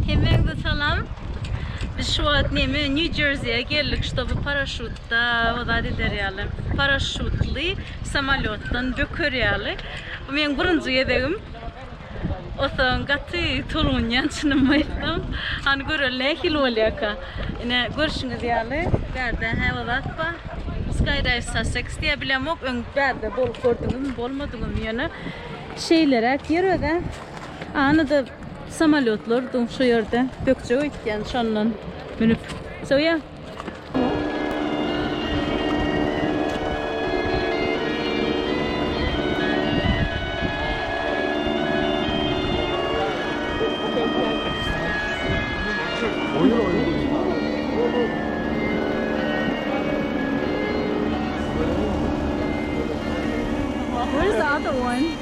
Hemmäňize salam. Biz şu wagt neme New Jersey-e geldik, şoby paraşutda wazat eder ýaly. Paraşutly samolyotdan böker ýaly. Bu meniň birinji gezegim. Osaň gaty tolgunýan çynymy aýtsam. Hany göreli nähili bolýarka. Ine görşüňiz ýaly, bärde hä wazat ba. Skydive Sussex diýýär, bilemok, öň bärde bolup gördüňizmi, bolmadyňyzmy ýöne şeýleräk ýer özä. Anyda Samolýotlar dur şu ýerde. Gökjek öýtýän şondan münüp. Söýä.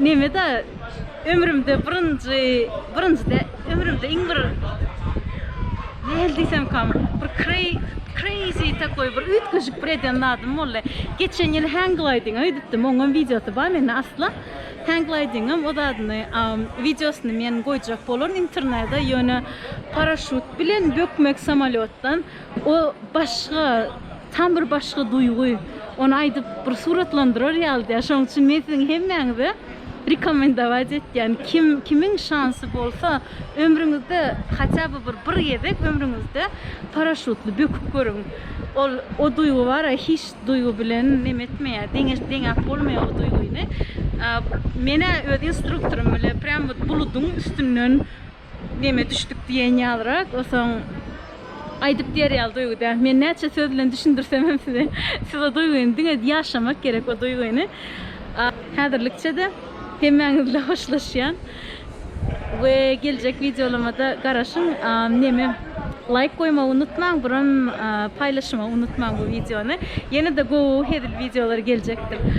Nemeda ömrümde birinji birinjide ömrümde iň bir nähili diýsemkam bir kreýzi takoý bir üýtgeşik bir eden zadym boldy. Geçen ýyl hängliding öýdüpdim. Oňam wideosy bar mende asla. Hänglidingem o zadyny wideosyny men goýjak bolaryn internede ýöne paraşýut bilen bökmek samolýotdan O başga, tam bir başga duýgy. Ony aýdyp bir suratlandyrar ýaly däl. Şonuň üçin men siziň hemmäňize rekomendować etýän. Kim, kimiň şansy bolsa, ömrüňizde haçä by bir, bir gezek ömrüňizde paraşutly böküp görüň. Ol, o duýgy bar-a, hiç duýgy bilen neme etmeýär, deňeş, deňäp bolmaýar o duýgyny. Men-ä öz instruktorym bile prýam wot buludyň üstünden Neme düşdük diýen ýalyrak, osaň aýdyp diýer ýaly duýgy däl. Men näçe söz bilen düşündirsem hem size, siz o duýgyny diňe ýaşamak gerek o duýgyny. Häzirlikçe-de hemmäňiz bilen hoşlaşýan we geljek wideolamada garaşyň. Neme laýk goýmagy unutmaň, buram paýlaşmagy unutmaň bu wideony. Ýene-de gowy hezil wideolary geljekdir.